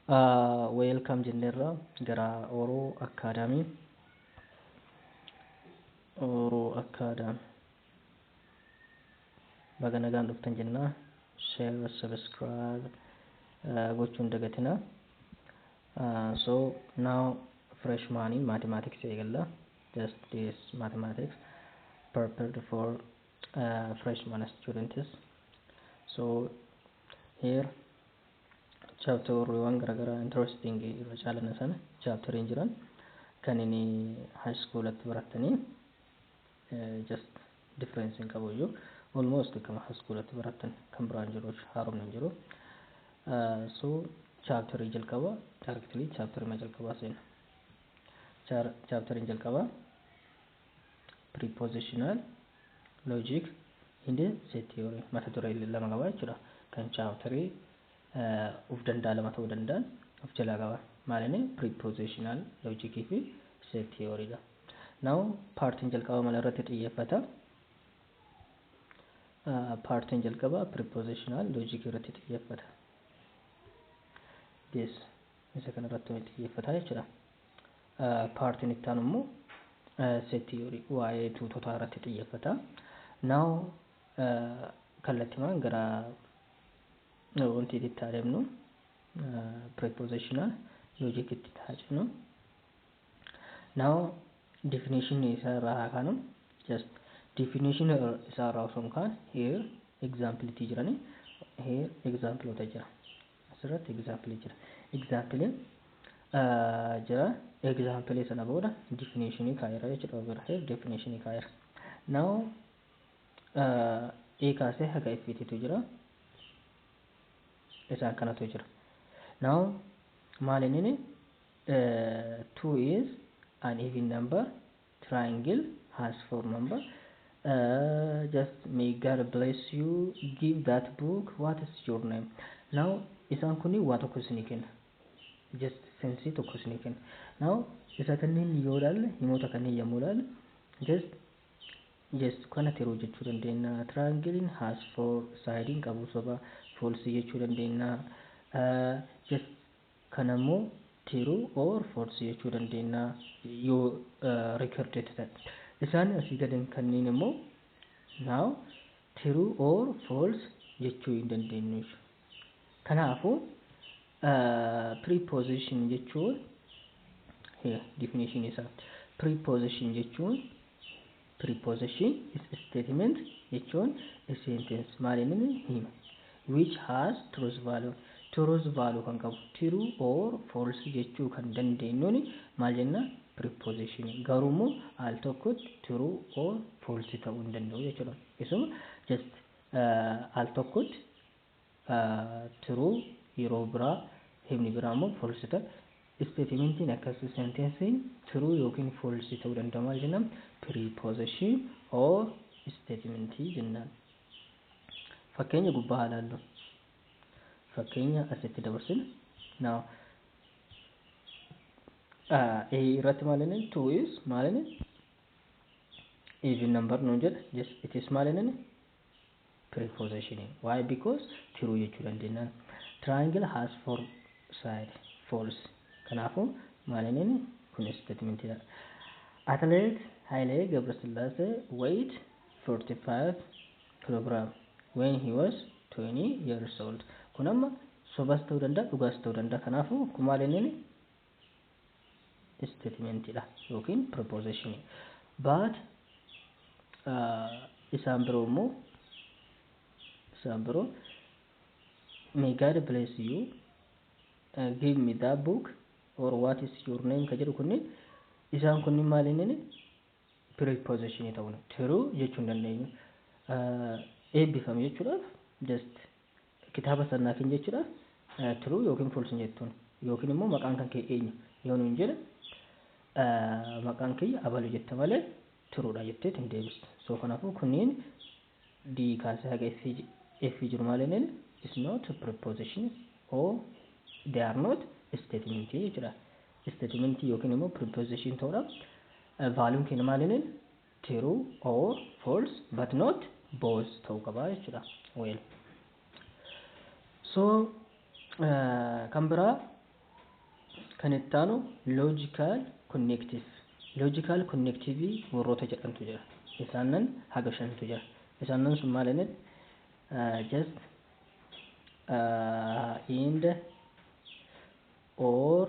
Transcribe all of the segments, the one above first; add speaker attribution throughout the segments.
Speaker 1: Wel come jennerra gara Oro Academy. Oro Academy. Baga nagaan dhuftan jenna. Share, subscribe uh, gochuun dagatina. Uh, so now freshman in mathematics eegalla. Just this mathematics prepared for uh, freshman students. So Here chapterwwan garagaraa interesting irra caalana sana chapter hin jiran kan inni high school atti barattanii just difference hin qabu iyyuu almost akkama high school atti barattan kan biraan jiru haaromni hin jiru so chapter jalqaba directly chapter ma jalqabaa seena chapter hin jalqabaa Prepositional Logic in the Set Theory mata duree lama qaba jechuudha. Kan chaaptarii of danda'a lama ta'uu danda'an of jalaa qaba. Maalinni prepositional logic fi set theory dha. Now paartiin jalqaba mala irratti xiyyeeffata. Paartiin jalqaba prepositional logic irratti xiyyeeffata. Yes, isa kana irratti xiyyeeffata jechuudha. Paartiin itti aanu immoo set theory waa'ee tuutotaa irratti xiyyeeffata. Now kallattimaan gara wantiititti haa deemnu prepositional logic itti haa jennu. Now definition isaa irraa haa kaanu just definition isaa irraa osoo hin kaane here example itti jirani here example ota jira. Asirratti example jira. Example jira. Example sana booda definition kaa'eera jechuudha. Overhead definition kaa'eera. Now A kaasee haga F titu jira. Isaan kanatu jira. Now maal inni 2 is an even number triangle has four number uh, just may God bless you give that book what is your name now isaan kuni waa tokko isinii kenna just sensii tokko isinii kenna now isa kanneen yoo ilaalle himoota kanneen yommuu ilaalle just just kana tiruu jechuu dandeenya triangling has four sides qabu soba false jechuu dandeenya uh, just Kana immoo true or false jechuu dandeenya yoo recorded ta'e. Isaan asii gadeen kanniin immoo now true or false jechuu hin dandeenyu. Kanaafuu preposition jechuun definition isaa preposition jechuun Preposition is statement jechuun a sentence maal inni ni hima which has truth value truth value kan qabu true or false jechuu kan dandeenyuun maal jenna preposition garuu immoo al tokkotti true or false ta'uu hin danda'u jechuudha isuma just al tokkotti true yeroo biraa himni biraa immoo false ta'a. Isteetimentiin akkas sentensiin true yookiin false ta'uu danda'a maal jennaan preposition or statement jennaan. Fakkeenya gubbaa haa ilaallu. Fakkeenya asitti dabarsina. Now uh, A irratti maal inni two is maal inni even number nuun jedha yes it is maal inni preposition why because true jechuu dandeennaan triangle has four side false kanaafuu maalinini kun statementidha athlete Hailee Gabrasillaasee weight 45 kilogram when he was 20 years old kun amma sobas ta'uu danda'a dhugaas ta'uu danda'a kanaafuu kun maalinini isteetimentii dha yookiin pirpoozishinii. Baat isaan biroo immoo isaan biroo may God bless you uh, give me that book or what is your name ka jedhu kunniin isaan kunniin maal inni preposition ta'uun true jechuu hin dandeenyu. Uh, Eebbifame jechuudhaaf just kitaaba san naa kenni jechuudha true yookiin false hin jettuun yookiin immoo maqaan kan kee eenyu yoo nuun jedhe maqaan kiyya abalu jetta malee true dha jettee hin deebistu so kanaafuu kunniin d kaasee haga f f jiru maaliin is not prepositions or they are not statement jechuudha statement yookiin immoo preposition ta'uudha valuun keenya maaliin True or false but not both ta'uu qaba jechuudha. Well. So kan biraa kan itti aanu logical connective. Logical connective warroota jedhantu jira. Isaannan haga shantu jira. Isaannan sun maal inni? Just and or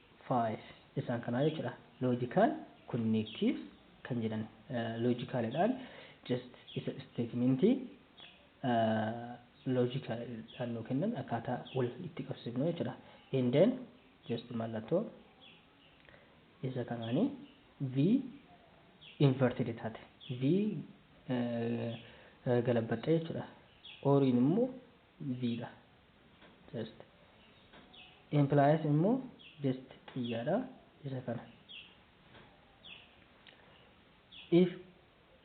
Speaker 1: 5 isaan kanaa jechuudha. Logical connective kan jedhan logical dhaan just isa statement logical dhaan nuu kennan akkaataa wal itti qabsiifnu jechuudha. And then just mallattoo isa kanaanii V inverted taate V galabbaxxee jechuudha. Oriin immoo zii dha just implies immoo just xiyyaadha isa kana if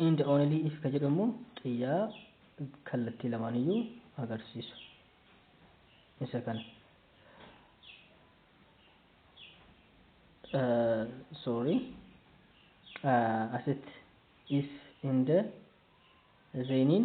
Speaker 1: and only if ka jedhu immoo xiyyaa kallattii lamaaniyyuu agarsiisu isa kana uh, sorry uh, asitti if and zeeniin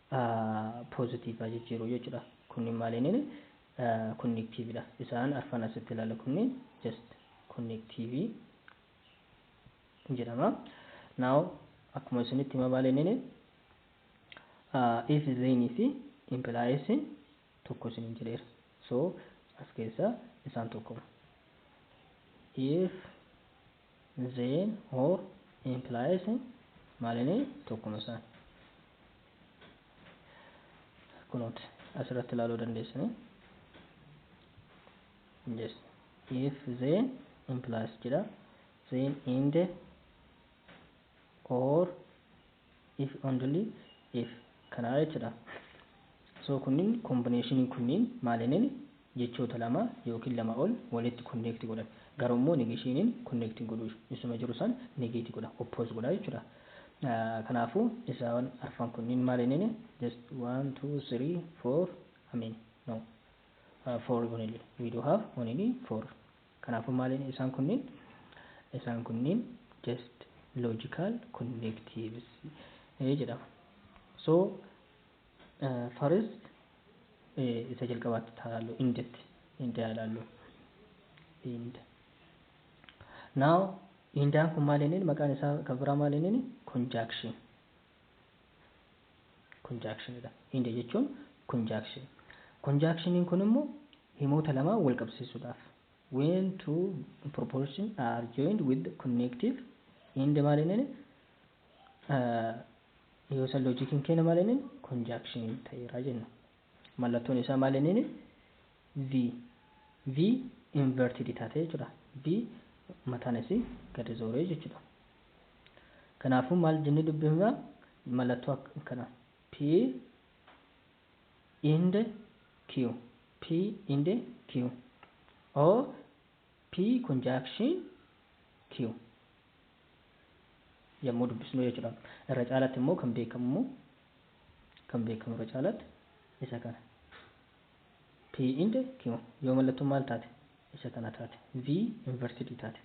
Speaker 1: positive jijjiiruu jechuudha. Kunni maaliin connective dha. Isaan arfan asitti ilaala kunni just connective jedhama. Now akkuma isinitti hima maaliin if then fi implies tokko isiniin jedheera. So as keessa isaan tokkoma. If Then, or, implies maalini tokkuma isaan. Kunooti asirratti ilaaluu dandeessanii. Yes. If then implies jedha. Then in the or if only if kanaa jechuudha. So kunniin combination kunniin maalineen jechoota lama yookiin lama ol walitti connect godhan garuu immoo negationiin connect hin godhu isuma jiru san negate godha oppose godha jechuudha. Kanaafuu isaan arfan kunniin maalineen just 1 2 3 4 I mean no uh, 4 only we do have only 4 Kanaafuu maaliin isaan kunniin? Isaan kunniin just logical connectives jedhamu. So first isa jalqabaatti taalaallu indetti inde haa ilaallu inde now indaan kun maal inni maqaan isaa kan biraa maal inni conjunction conjunction dha. Inja jechuun conjunction. Conjunctioniin kun immoo himoota lamaa wal qabsiisuudhaaf. When two propositions are joined with connective end maal jenneen yoo san loojikiin keenya maal jenneen conjunction ta'eera jenna. Mallattoon isaa maal jenneen V. V inverted taatee jechuudha. V mataan isii gadi zooree jechuudha. Kanaafuu maal jennee dubbifna? Mallattoo akka kana P and Q P and Q or P conjunction Q yommuu dubbisnu jechuudha. Irra caalatti immoo kan beekamu immoo kan beekamu irra caalatti isa kana. P and Q yoo mallattoon maal taate? Isa kana taate. V inverted taate.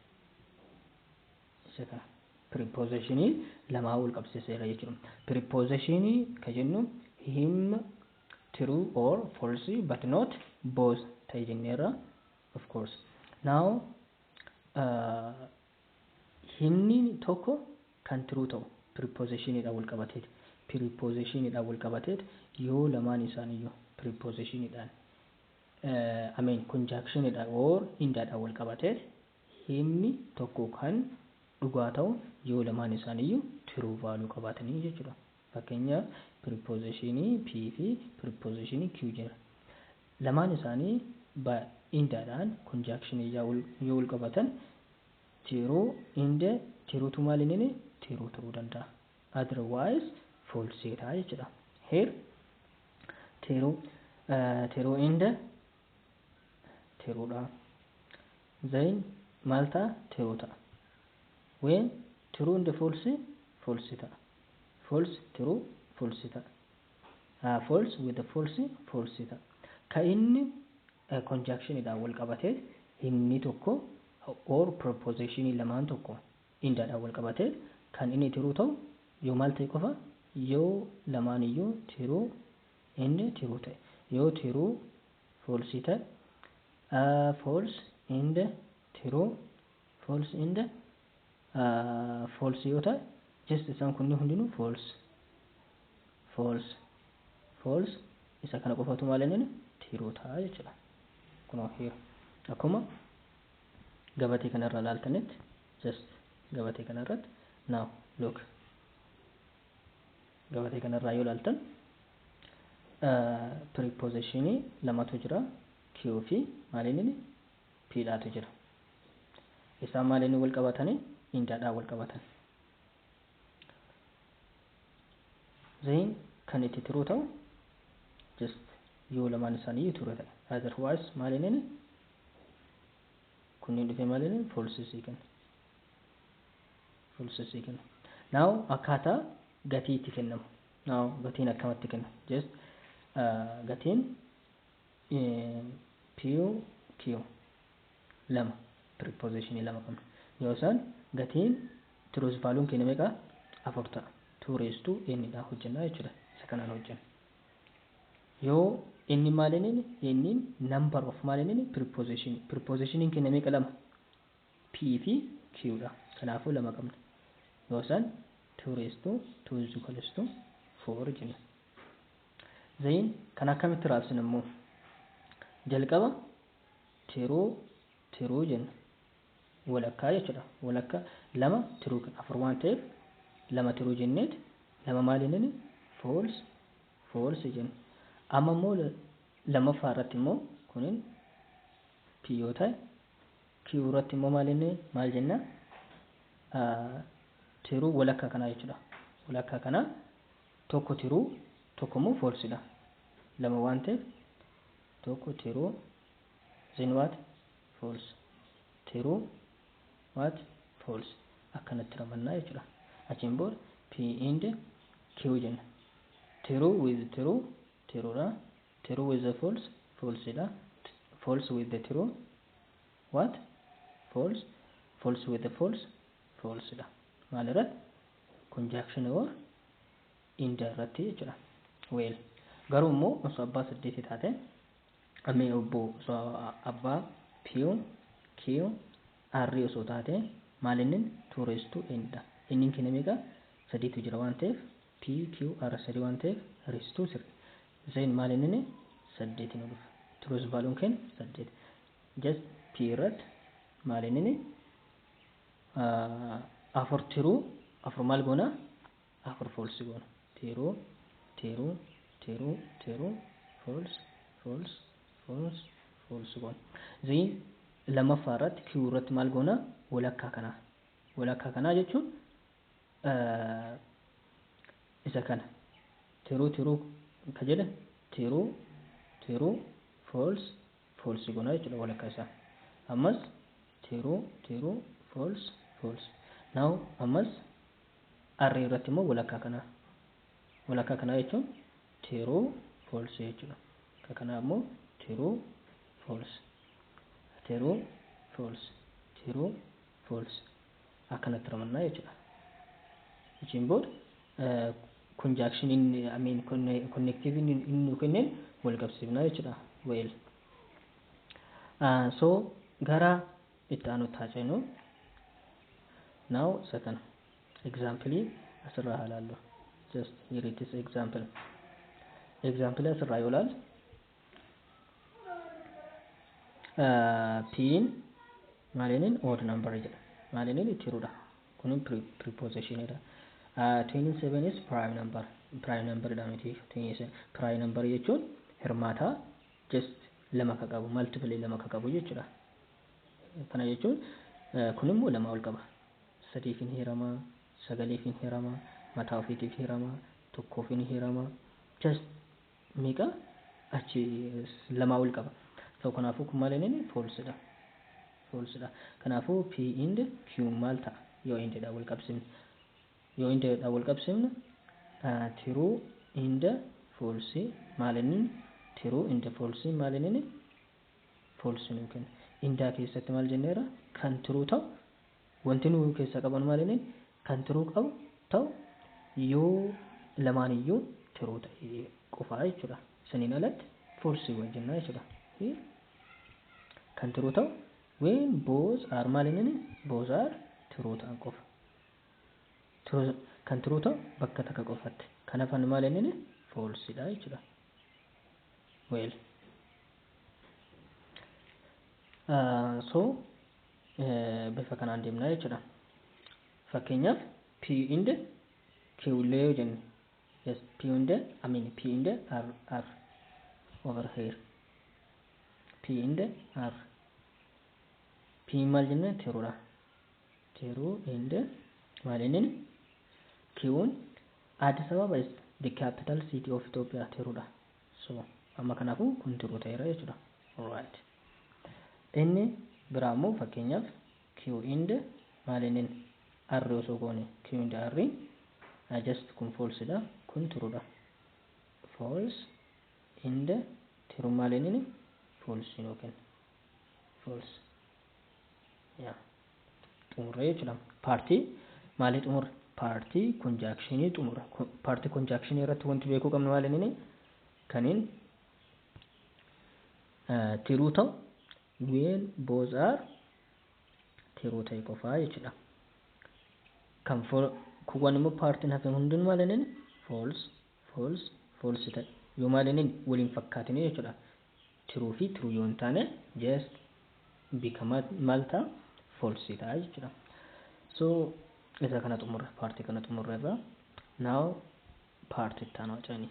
Speaker 1: isa kana piripoozeshinii lamaa wal qabsiiseera jechuudha. Piripoozeshinii ka jennu him true or false but not both ta'e jenneerra of course. Now uh, himni tokko kan true ta'u piripoozeshiniidhaan wal qabateet piripoozeshiniidhaan wal qabateet yoo lamaan isaaniiyyuu piripoozeshiniidhaan uh, I mean conjunctionidhaan or hindaadhaan wal qabateet Himni tokko kan dhugaa ta'u yoo lamaan isaaniiyyuu true value qabaatanii jechuudha. Fakkeenyaaf preposition P fi preposition Q jira. Lamaan isaanii by and dhaan conjunction ijaa yoo wal qabatan true and true tu maal hin hine true ta'uu danda'a. Otherwise false ta'a jechuudha. Here true true and tiruu dha. Zain maal ta'a? Tiruu ta'a. When true and false false ta'a. False true false ta'a. Uh, false with the false false ta'a. Ka inni uh, conjunction dhaan wal qabate inni tokko or proposition lamaan tokko inda dhaan wal qabate kan inni tiruu ta'u yoo maal ta'e qofa yoo lamaan iyyuu tiruu inni true ta'e. Yoo true false ta'e false and true false and false yoo ta'e just isaan kunni hundinuu false false false isa kana qofatu maal inni true ta'a jechuudha. Kunoo here akkuma gabatee kanarraa ilaaltanitti just gabatee kanarratti now look Gabatee kana irraa yoo ilaaltan piripoozishinii lamatu jira. Q fi maaliin inni P dhaatu jira. Isaan maaliin wal qabatanii indaadhaan wal qabatan. Zeen kan itti tiruu ta'u just yoo lamaan isaanii ture ta'e. Otherwise maaliin inni kunniin dhufee maaliin false sii kenna. Full sesii kenna. Now akkaataa gatii itti kennamu. Now gatiin akkamatti kenna. Just gatiin PQ lama preposition lama qabna. Yoo isaan gatiin truth value keenya meeqa afur ta'a. Two raised to n dha hojjennaa jechuudha. Isa kanaan hojjenna. Yoo inni maal inni inni number of maal inni preposition preposition keenya meeqa lama P fi Q dha. Kanaafuu 2 qabna. Yoo san 2 raised to 2 is equals to 4 jenna. Then kan akkamitti raabsina immoo? Jalqaba tiruu tiruu jenna. Walakkaa jechuudha. Walakka lama tiruu kan afur waan ta'eef lama tiruu jenneet lama maal jennani false false jenna. Amma immoo lammaffaa irratti immoo kunin P yoo ta'e Q irratti immoo maal inni maal jenna tiruu walakkaa kanaa jechuudha walakkaa kanaa tokko tiruu tokko immoo foolsidha lama waan ta'eef tokko tiruu zin waat fools tiruu waat fools akkanatti ramannaa jechuudha achiin booda p inde q jenna tiruu wiz tiruu tiruudha tiruu wiz fools foolsidha fools wiz tiruu what false false with false false dha maal irratti conjunction or in the irratti jechuudha well garuu immoo osoo abbaa saddeeti taate amee obbo osoo abbaa piyu kiyu arrii osoo taate maalinnin tuureestuu indha innin kina meeqa sadiitu jira waan ta'eef PQR3 waan ta'eef Ristuu sirrii. Then maal innini? 8 nu dhufa. Truth value keenya 8. Just P irratti maal innini? 4 tiruu 4 maal goona? 4 false goona. Tiruu tiruu tiruu tiruu false false false false goona. Then lammaffaa irratti Q irratti maal goona? Walakkaa kanaa. Walakkaa kanaa jechuun isa kana tiruu tiruu ka jedhe tiruu tiruu fools fools gona jechuudha walakka isaa ammas tiruu tiruu fools fools now ammas arrii irratti immoo walakkaa kanaa walakkaa kanaa jechuun tiruu fools jechuudha ka kanaa immoo tiruu fools tiruu fools tiruu fools akkanatti ramannaa jechuudha. Achiin booda conjunction inni I mean connective inni inni nu kenneen wal qabsiifnaa jechuudha. Well. So gara itti aanutti haa ceenu. Now isa kana example asirraa haa ilaallu. Just here it is example. Example asirraa yoo ilaalu piin maalinin odd number jedha maalinin itti hirudha kun preposition dha 27 is prime number prime number dha miti 27 prime number jechuun hirmaataa just lama ka qabu multiple lama ka qabu jechuudha kana jechuun kun immoo lama ol qaba sadiif hin hirama sagaliif hin hirama mataa ofiitiif hirama tokkoof hin hirama just meeqa achi lamaa ol qaba. So kanaafuu kun maal inni false dha. False dha. Kanaafuu P and Q maal ta'a yoo and dhaan wal qabsiifne. Yoo and dhaan wal qabsiifne true and false maal inni true and false maal inni false nuu kenna. Indaa keessatti maal jenneera kan true ta'u wanti nuu keessaa qabanu maal inni kan true qabu ta'u yoo lamaan iyyuu true ta'e qofaa jechuu dha. Saniin alatti false wal jennaa jechuu dha. Fi kan true ta'u when both are maal innini both are true ta'an qofa. True kan true ta'u bakka takka qofatti. Kan hafan maal innini false dha jechuu dha. Well. Uh, so bifa kanaan deemna jechuudha. Fakkeenyaaf P inde Q illee yoo jenne yes P inde I mean P inde R R over here P inde R P maal jenne tiruudha. Tiruu inde maal inni Q'n Addis Ababa is the capital city of Ethiopia tiruudha. So amma kanaafuu kun tiruu ta'eera jechuudha. Alright. Inni biraa immoo fakkeenyaaf Q and maalinnin R osoo goone Q and R I just kun false dha kun true dha. False and true maalinnin false nuu kenna. False. Yeah. xumurree jechuudha. Paartii maalii xumurre? Paartii konjaakshinii xumurre. Paartii konjaakshinii irratti wanti beekuu qabnu maal inni? Kaniin tiruu ta'u ween both are tiruu ta'e qofaa jechuudha. Kan kuwwan immoo paartiin hafeen hundinuu maal inni false false false ta'e yoo maal inni waliin fakkaatinii jechuudha. Tiruu fi tiruu yoo hin taane just bika maal ta'a false ta'a jechuudha. So isa kana xumurre paartii kana xumurre irraa now paartii itti aanu hacanii.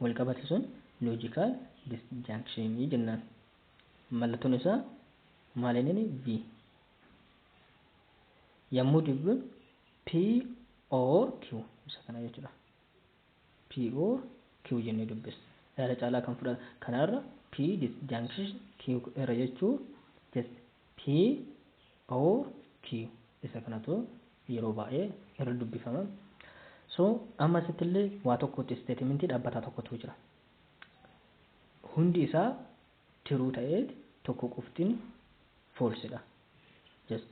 Speaker 1: wal qabate sun logical disjunction jennaan. Mallattoon isaa maal inni V. Yammuu dubbifnu P or Q isa kana jechuudha. P or Q jennee dubbisna. Yaada caalaa kan fudhata kanarra P disjunction Q irra jechuu just P Or Q isa kanatu yeroo baay'ee irra dubbifama. So amma asitti illee waa tokkotti isteetimentii dhaabbataa tokkotu jira. Hundi isaa tiruu ta'eet tokko qoftin foolsidha. Just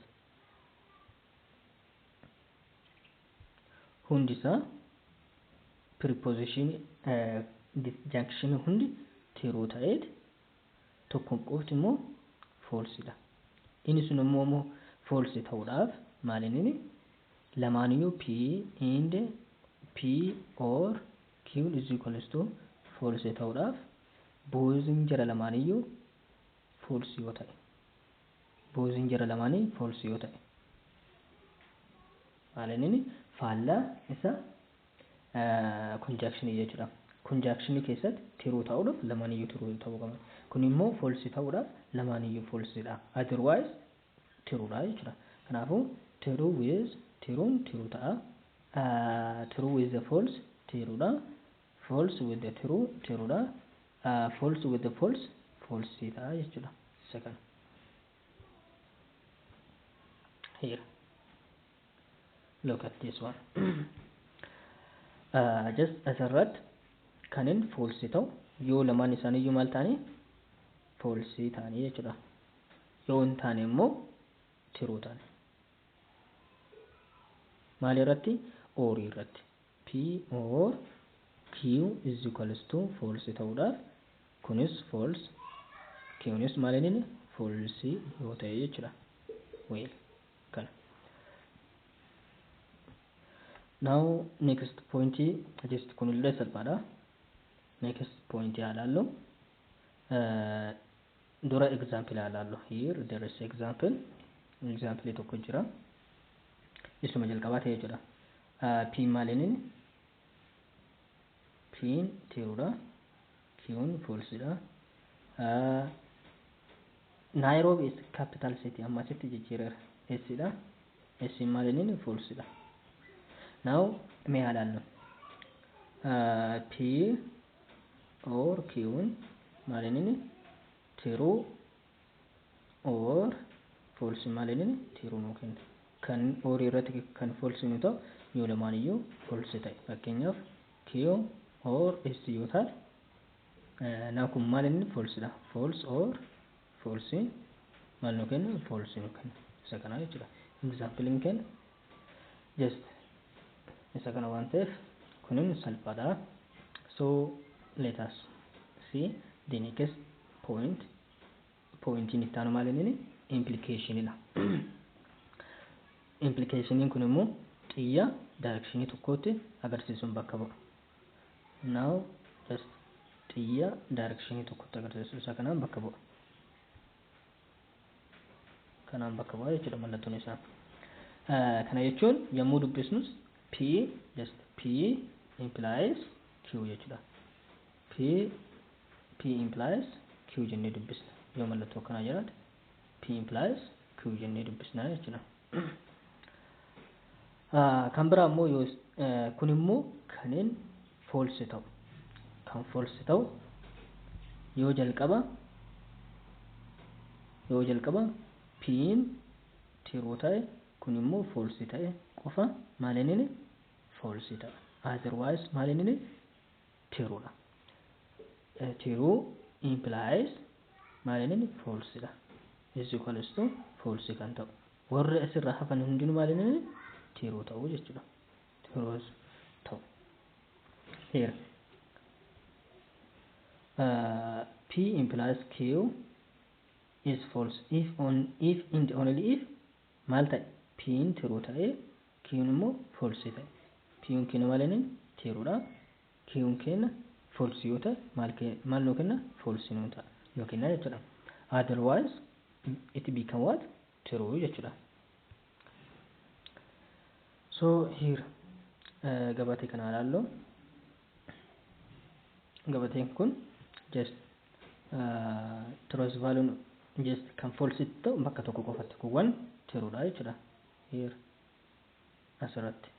Speaker 1: hundi isaa preposition disjunction hundi tiruu ta'eet tokkoon qofti immoo false dha. Inni sun immoo immoo false ta'uudhaaf maal inni lamaaniyyuu P and P or Q is equals to false ta'uudhaaf boozin jara lamaaniyyuu false yoo ta'e boozin jara lamaanii false yoo ta'e maal inni faallaa isa konjaakshinii jechuudha. Konjaakshinii keessatti tiruu ta'uudhaaf lamaaniyyuu tiruu ta'uu qaba. Kun immoo foolsii ta'uudhaaf lamaaniyyuu foolsiidha. Otherwise tiruudha jechuudha. Kanaafuu tiruu with tiruun tiruu ta'a. Tiruu with the false tiruudha. False with the tiruu tiruudha. False with the false foolsii ta'a jechuudha. Isa kana. Here. look at this one uh, just asirratti kanin foolsii ta'u yoo lamaan isaanii iyyuu maal ta'anii foolsii ta'anii jechuudha yoo hin taane immoo tiruu ta'an maal irratti oorii irratti p or q is equals to foolsii ta'uudhaaf kunis fools qnis maal inni foolsii yoo ta'e jechuudha weel kana. Now next point just kunillee salphaadha. Next point haa laallu. Uh, dura example haa laallu. Here there is example. Example tokko jira. Isuma jalqabaa ta'e jechuudha. Uh, P maaliin P tiruudha. Kiyoon false dha. Nairobi is capital city amma asitti jijjiireera. S dha. S maaliniin false dha. Now mee haa laallu. P or Qn maaliniin true or false maaliniin true nuu kenna. Kan or irratti kan false nu ta'u yoo lamaaniyyuu false ta'e. Fakkeenyaaf Q or S yoo taate now kun maal inni false dha false or false maal nu kenna false nu kenna isa kanaa jechuudha example hin kenna just isa kana waan ta'eef kunin salphaadha so let us see the next point Pooyintiin itti aanu maal inni? Implikeeshiniidha. Implikeeshiniin kun immoo xiyya daayirekshinii tokkootti agarsiisuun bakka bu'a. Now just xiyya daayirekshinii tokkotti agarsiisu isa kanaan bakka bu'a. Kanaan bakka bu'a jechuudha mallattoon isaa. Kana jechuun yommuu dubbisnus P just P implies Q jechuudha. P P implies Q jennee dubbisna. Yoo mallattoo akkanaa jiraate P implies Q jennee dubbisna jechuudha. Ah, Kan biraa immoo yoo is- eh, kun immoo kanin false ta'u kan false ta'u yoo jalqaba yoo jalqaba piin tiruu ta'e kun immoo false ta'e qofa maal inni false ta'a otherwise maal inni true dha. True implies maal inni inni false dha. is equals to false kan ta'u. Warri asirraa hafan hundinuu maal inni inni true ta'u jechuudha. True ta'u. Here. Uh, P implies Q is false if on if and only if maal ta'e P'n true ta'e Kiyuun immoo false ta'e. Kiyuun keenya maal jenneen? True dha. Kiyuun keenya false yoo ta'e maal kee maal nuu kenna? False nuu ta'a nuu kenna jechuudha. Otherwise it become what? True jechuudha. So here uh, gabatee kana ilaallu. Gabateen kun just uh, trust value just kan false ta'u bakka tokko qofatti kuwwan true dha jechuudha. Here as irratti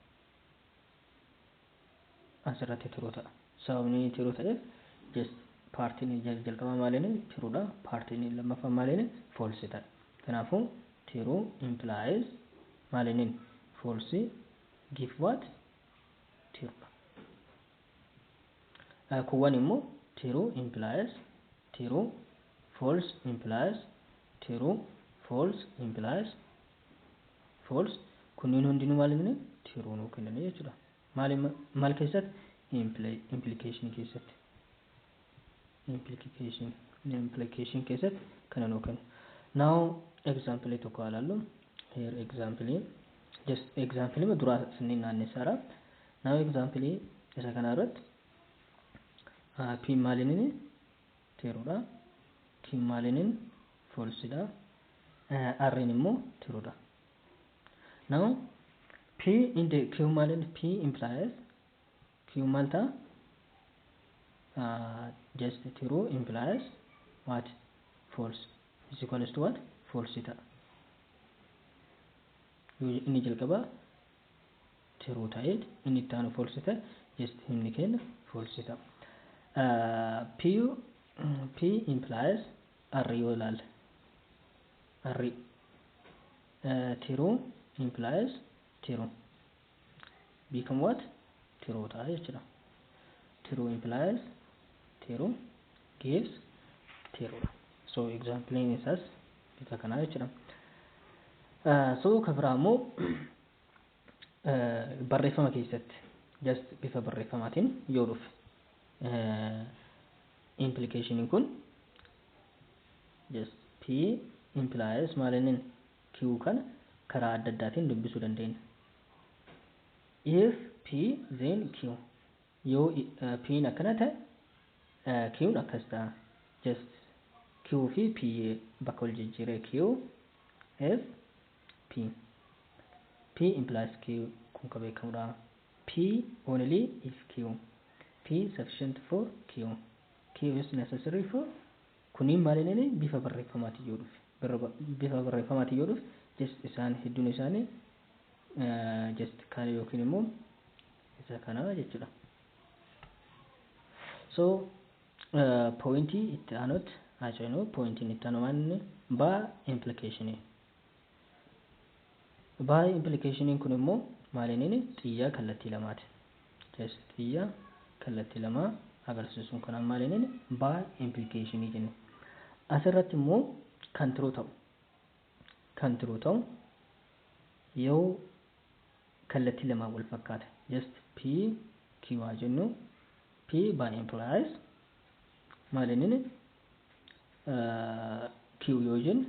Speaker 1: as irratti true ta'a sababni true ta'eef just paartiin jalqabaa maaliin true dha paartiin lammaffaa maaliin false ta'a kanaafuu true implies maaliin false give what true dha Eh, kuwwan immoo true implies true false implies true false implies false kunniin hundinuu maal inni tiruu nuu kennanii jechuudha maal maal keessatti implication keessatti implication implication keessatti kana nuu kennu now example tokko alaallu here example just example ma duraa sanniin naannessaara now example isa kana irratti p maal inni True dha. Kim Malinin false dha. Eh, R in immoo true dha. Now P in the Q Malin P implies Q maal ta'a? Uh, just true implies what? False. Is equals to what? False ta'a. Yoo inni jalqabaa true ta'e inni itti aanu false ta'e just himni keenya false ta'a. P P implies R yoo ilaalle R true implies true become what true ta'a jechuudha. True implies true gives true dha. So example isaas isa kanaa jechuudha. So ka biraa immoo barreeffama keessatti just bifa barreeffamaatiin yoo dhufe implication kun just p implies maal inni q kana karaa adda addaatiin dubbisuu dandeenya if p then q Yoo P'n akkana ta'e Q'n akkas ta'a. Just Q fi P bakka wal jijjiiree Q, F, P. P implies Q kun ka beekamudha. P only if Q. P sufficient for Q. Q is necessary for Kunniin maal inni bifa barreeffamaatiin yoo dhufe. Bifa barreeffamaatiin yoo dhufe just isaan hedduun isaanii just kana yookiin immoo isa kana jechuudha so poointii itti aanutti haa ceenu poointiin itti aanu maanni baa implikeeshinii baa implikeeshiniin kun immoo maaliinini xiyyaa kallattii lamaati jees xiyyaa kallattii lamaa agarsiisuun kanaan maaliinini baa implikeeshinii jenne asirratti immoo kan tiruu ta'u kan tiruu ta'u yoo kallattii lamaan wal fakkaata just p q haa jennu p by implies maal inni uh, q yoo jennu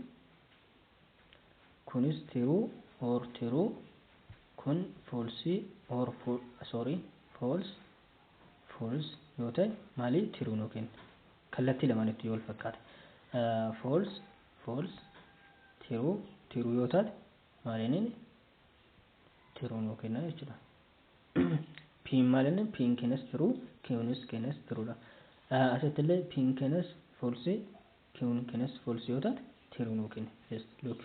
Speaker 1: kunis tiruu or tiruu kun foolsii or fo sorry fools fools yoo ta'e maalii tiruu nuu kenna kallattii lamaanitti yoo wal fakkaata uh, fools fools tiruu tiruu yoo taate maal inni tiruu nuu kenna jechuudha. Piin maal inni piin keenyas tiruu kiwunis keenyas tiruudha. Asitti illee piin keenyas foolsi kiwun keenyas foolsi yoo taate tiruu nuu kenna. Just look.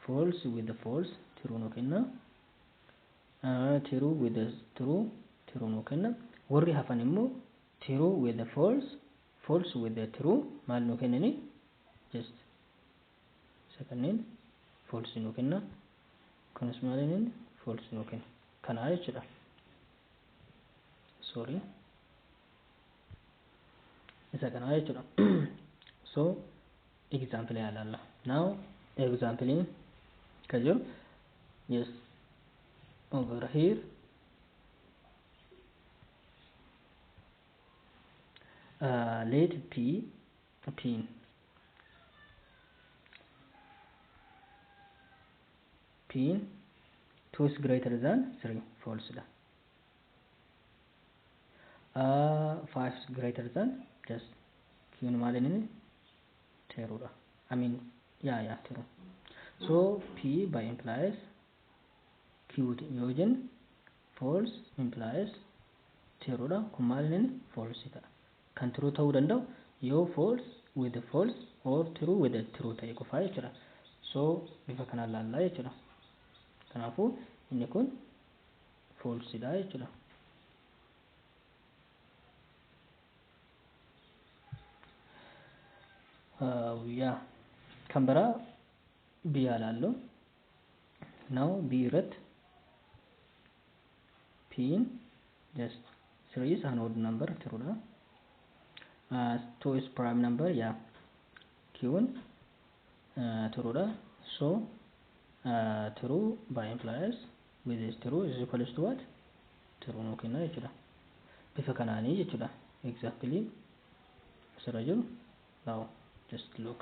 Speaker 1: False with the false tiruu nuu kenna. Uh, tiruu with the true tiruu nuu kenna. Warri hafan immoo tiruu with the false false with the true maal nuu kennanii just Isa kanneen false nuu kenna. Kunis maal inni false nuu kenna. Kanaa jechuudha. Sorry. Isa kanaa jechuudha. So example yaa ilaalla. Now example kan jiru yes over here uh, let p tiin tiin 2 is greater than 3 false dha uh, 5 is greater than just kiin maal inni teeruu dha I mean yaa yaa teeruu so P by implies Q yoo jennu false implies teeruu dha kun maal inni false ta'a kan true ta'uu danda'u yoo false with a false or true with a true ta'e qofaa jechuudha. So bifa kanaan laallaa jechuudha. Kanaafuu inni kun false dha jechuudha. Uh, yeah. Kan biraa biyyaa laalloo. now b irratti p in just 3 is an odd number true dha uh, 2 is prime number yeah q in uh, true dha so uh, true by implies with is true is equals to what true nuu kenna jechuudha bifa kanaanii jechuudha exactly asirra jiru now just look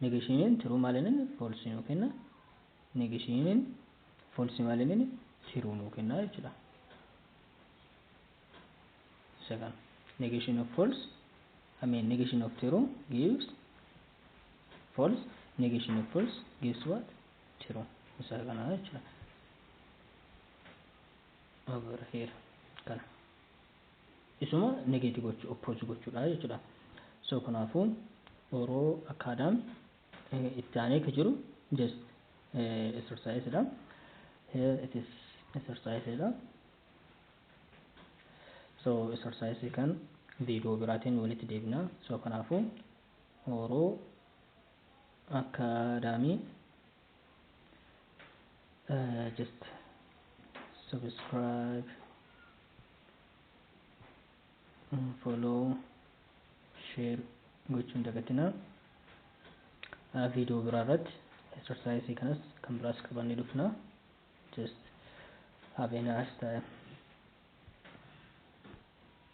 Speaker 1: Negeeshiiniin tiruu maal inni foolsii nuu kenna. Negeeshiiniin foolsii maal inni tiruu nuu kenna jechuudha. Isa kana. Negation of false, I mean negation of true gives false, negation of false gives what? True. Isa kana jechuudha. Over here. Kana. isuma negate gochuu oppose gochuudha jechuudha so kanaafu oro acadam itti aanee ka jiru just exercise dha here it is exercise dha so exercise kan video biraatiin walitti deebina so kanaafu oro acadamii uh, just subscribe mm, follow share gochuu hin dagatinaa uh, video biraa irratti exercise kanas kan biraas qabannee dhufna just have a nice time